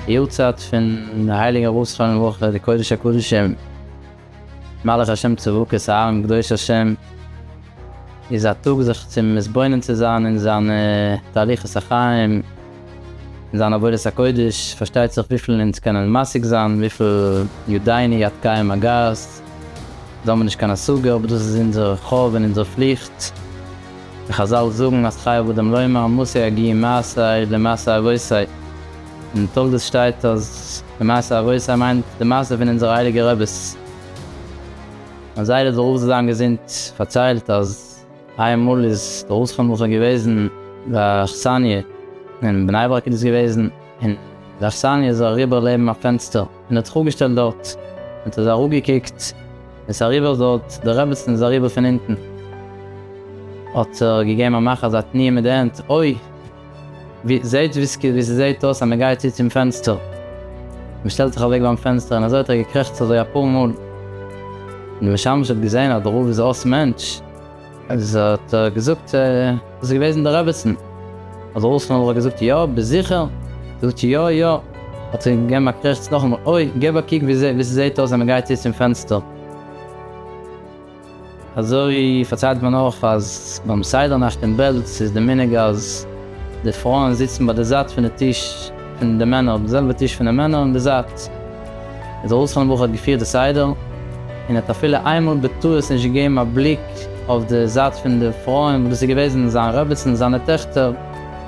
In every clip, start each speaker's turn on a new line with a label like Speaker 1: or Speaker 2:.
Speaker 1: יארצייט פון די הייליגע ארויספארן אין רוח קודש הקדשים מלאך השם צבקות אהרן קדוש השם איז א טאג זיך צו מתבונן צו זיין אין זיינע תהליכות החיים, אין זיין עבודת הקודש, פארשטייט זיך וויפיל אונז קענען משיג זיין, וויפיל יודעני עד קאי מגעת, דאס האבן מיר נישט קיין השגה, אבער דאס איז אונזער חוב און אונזער פליכט, ווי חזל זאגן אז חייב אדם לומר מסי אגיע מעשיי למעשי אבותי, אין תולדות שטייט אז למעשי אבותי מיינט די מעשה פון אונזערע הייליגע רעבעס, אז זייער האט ברוך זיי זיין געזונט פארציילט אז. איין מאל איז די אויסהאנדלונג שוין געוועזן ביי א אכסניא אין בני ברק איז דאס געוועזן, און די אכסניא איז אריבער לעבן א פענסטער און האט זיך אפגעשטעלט דארט, און האט אזוי אראפגעקוקט און איז אריבער דארט, די רעבעצן איז אריבער פון אונטן האט ער געגעבן א מאך אזא תנועה מיט די הענט, אוי! ווי זעהט וויסקי ווי ס'זעהט אויס אז מ'גייט צו צום פענסטער. מ'שטעלט זיך אוועק ביים פענסטער און אזוי האט ער געקרעכצט אזוי אפאר מאל. און די משמש האט געזעהן אז די רב איז אויס מענטש. איז האט ער געזאגט דאס איז געוועזן די רעבעצן. האט די רב שנעל געזאגט יא ביזט זיכער? געזאגט יא יא. האט ער געגעבן א קרעכץ נאכאמאל אוי געב א קוק ווי ס'זעהט אויס אז מ'גייט צו צום פענסטער. אזוי פארציילט מען אויך אז ביים סדר נאכט אין בעלז איז די מנהג אז די פרויען זיצן ביי די זייט פון די טיש פון די מענער, די זעלבע טיש פון די מענער אין די זייט. איז דער אסלאנער בחור האט געפירט די סדר און האט אפילו איינמאל בטעות נישט געגעבן א בליק אויף די זייט פון די פרויען וואס דאס איז געוועזן זיין רעביצן זיינע טעכטער,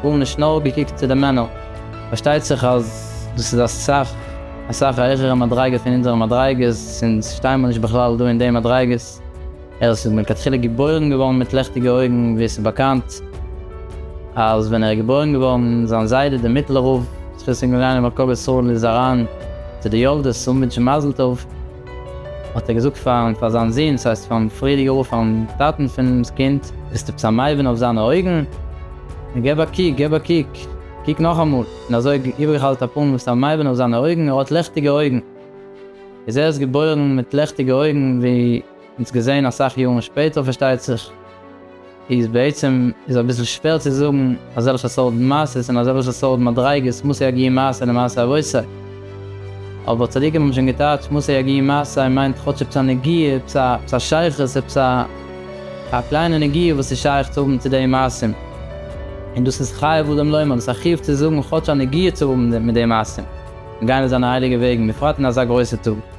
Speaker 1: גארנישט נאר געקוקט צו די מענער. פארשטייט זיך אז דאס איז א סכ. אסאך א העכערע מדריגה פון אונזערע מדריגות, אונז שטייען מיר נישט בכלל דא אין די מדריגות, ער איז מלכתחילה געבוירן געווארן מיט לעכטיגע אויגן, ווי עס איז באקאנט אז ווען ער איז געבוירן געווארן, זיין זיידע דער מיטלער רב, זכות און געליין איבער קבר ישראל איז אריין צו די יולדות צו אנווינטשן מזל טוב, האט ער געזאגט פארן פאר זיין זון, ס'הייסט פארן פריערדיגע רב פארן טאטן פונעם קינד. ביסט עפעס א מבין אויף זיינע אויגן? געב א קוק, געב א קוק. קוק נאכאמאל, און אזוי האט איבערגעחאלט א פאן וואס א מייבן אויף זיינע אויגן, ער האט לעכטיגע אויגן. איז ער איז געבוירן מיט לעכטיגע אויגן ווי אונז געזען אסאך יארן שפעטער פארשטייט זיך, איז בעצם איז אביסל שווער צו זאגן אזעלכע סארט מעשות און אזעלכע סארט מדריגות מעשי הגיהמאס און מעשי אבותי. אבער צדיקים האבן שוין געטייטשט מסי ע ג מסי מיינט כאטש עפעס א נגיעה, עפעס א עפעס א שייכות, עפעס א א קליינע נגיעה וואס איז שייך צו האבן צו די מעשים. און דאס איז חייב אדם לומר, דאס איז א חיוב צו זאגן כאטש א נגיעה צו האבן מיט די מעשים. מיר גייען אויף זיינע הייליגע וועגן, בפרט אין אזא גרויסע טאג.